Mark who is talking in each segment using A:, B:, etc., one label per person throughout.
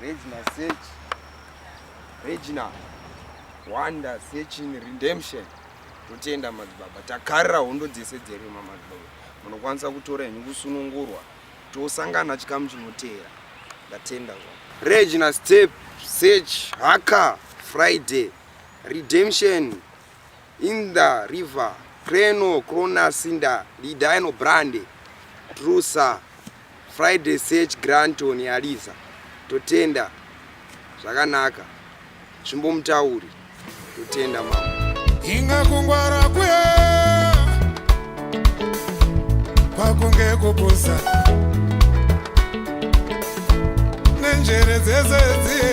A: Regina search. Regina wonder searching redemption. Totenda madzibaba. Takarira hondo dzese dzerima madzibaba. Munokwanisa kutora henyu kusunungurwa. Tosangana chikamu chinoteera. Ndatenda zva. Regina step search haka Friday redemption Inda, River, Creno, Crona, Sinda, Lidino, Brande, Trusa, Friday, Sech, Granton, Aliza, Totenda, Zvakanaka, Zvimbo Mutauri, Totenda Mama. Inga kungwara
B: kwe, kwakunge kupusa, nenjere dzese dziye.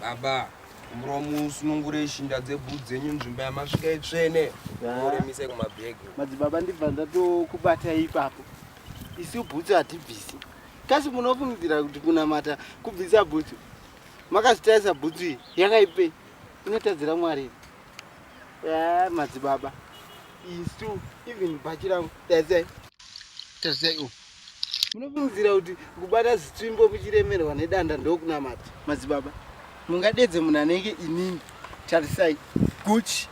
A: Baba, muromo usunungure shinda dzebhudzi dzenyu nzvimbo yamasvika itsvene. Muremise kumabhegi. Madzibaba ndibva
C: ndatokubata ipapo. Isu bhutsu hatibvisi. Kasi munofungidzira kuti kunamata kubvisa bhutsu? Makazvitarisa bhutsu iyi yakaipei? Inotadzira Mwari. Yeah, madzibaba. Isu even bhachi rangu. Tazai. Tazai uku. munofungidzira kuti kubata zitsvimbo muchiremerwa nedanda ndokunamata madzibaba mungadedze munhu anenge inini tarisai guchi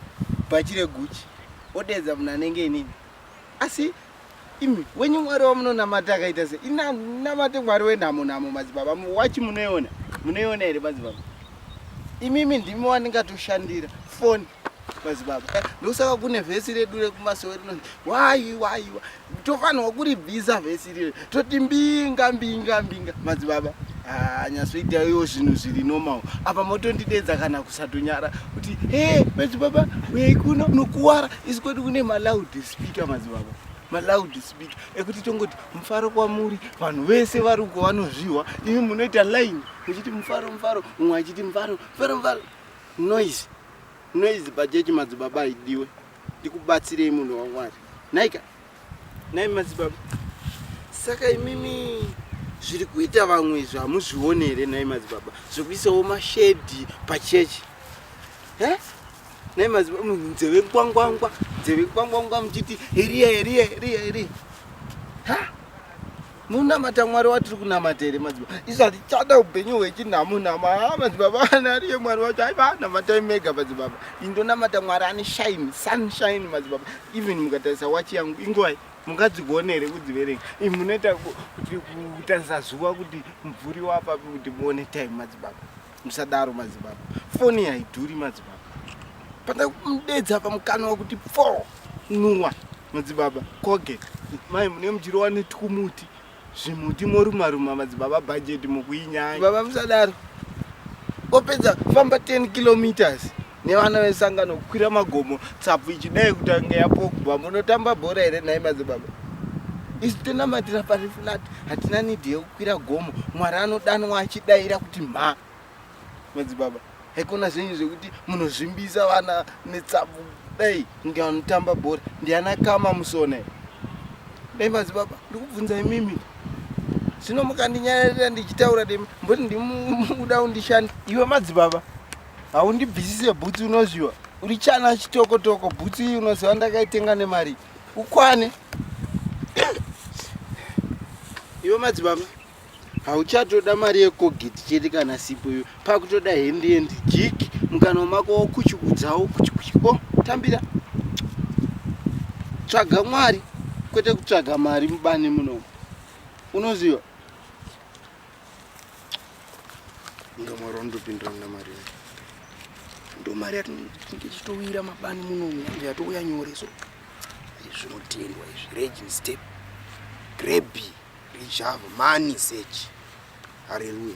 C: bhachi reguchi odedza munhu anenge inini asi imi wenyu mwari wamunonamata akaita se inanamate mwari wenhamo nhamo madzibaba wachi munoiona munoiona here madzibaba imimi ndimi wandingatoshandira foni madzibaba ndokusaka kune vhesi redu rekumasowe rinonzi wayi wayiwa tofanirwa kuribvisa vhesi iriri toti mbinga mbinga mbinga madzibaba ah, nyasvoitaiwo zvinhu zviri normal apa motondidedza kana kusatonyara kuti he madzibaba uyai kuno nokuwara isi kwedu kune maloud speaker madzibaba maloud speaker ekuti tongoti mufaro kwamuri vanhu vese vari uko vanozvihwa imi munoita line muchiti mufaro mufaro umwe achiti mufaro mufaro mufaro noise Noise pachechi madzibaba haidiwe. Ndikubatsirei munhu waMwari. Naika. Nai madzibaba. Saka imimi zviri kuita vamwe izvi hamuzvione here nai madzibaba zvekuisawo mashedhi pachechi e nai madzibaba munhu nzeve kwangwangwa nzeve kwangwangwa muchiti heriya heriya heriya heriya ha munamata mwari watiri kunamata here madzibaba isu hatichada upenyu hwechinhamo nhamo haa madzibaba ana ariye mwari wacho aiva namatai mega madzibaba indonamata mwari ane shine sunshine madzibaba even mukatarisa wachi yangu ingwai mungadzigone here kudziverenga i munoita kutarisa zuva kuti mvuri wapapi kuti muone time madzibaba Musadaro madzibaba. Foni haidhuri madzibaba. Panda kumudedza pamukana wakuti pfo nuwa madzibaba koge mai mune mujiro wani tukumuti zvimuti moruma ruma madzibaba budget mukuinyaya. Baba musadaro. Opedza famba 10 kilometers nevana vesangano kukwira magomo tsapfu ichidai kutanga yapogba munotamba bhora here nhai madzibaba isu tonamatira pari flat hatina nidhi yekukwira gomo mwari anodanwa achidaira kuti mha madzibaba haikona zvenyu zvekuti munozvimbisa vana netsapfu dai ndianotamba bhora ndiana kama musone dai madzibaba ndikubvunza imimi zvino mukandinyararira ndichitaura demi mboti ndimuda undishanda iwe madzibaba haundibvisise bhutsu unozviwa uri chana chitoko toko bhutsu iyi unoziva ndakaitenga nemari ukwane iwe madzibaba hauchatoda mari yekogeti chete kana sipo iyo pakutoda hendi endi jiki mukana wemako wokuchikudzawo kuchikuchiko oh, tambira tsvaga mwari kwete kutsvaga mari mubani munomu unoziva ndomari wandopindira muna mari yayo ndomari yatinenge chitowira mabani muno yange yatouya nyore so zvinotengwa izvi regin step grebi rijava mani sechi
D: hareruya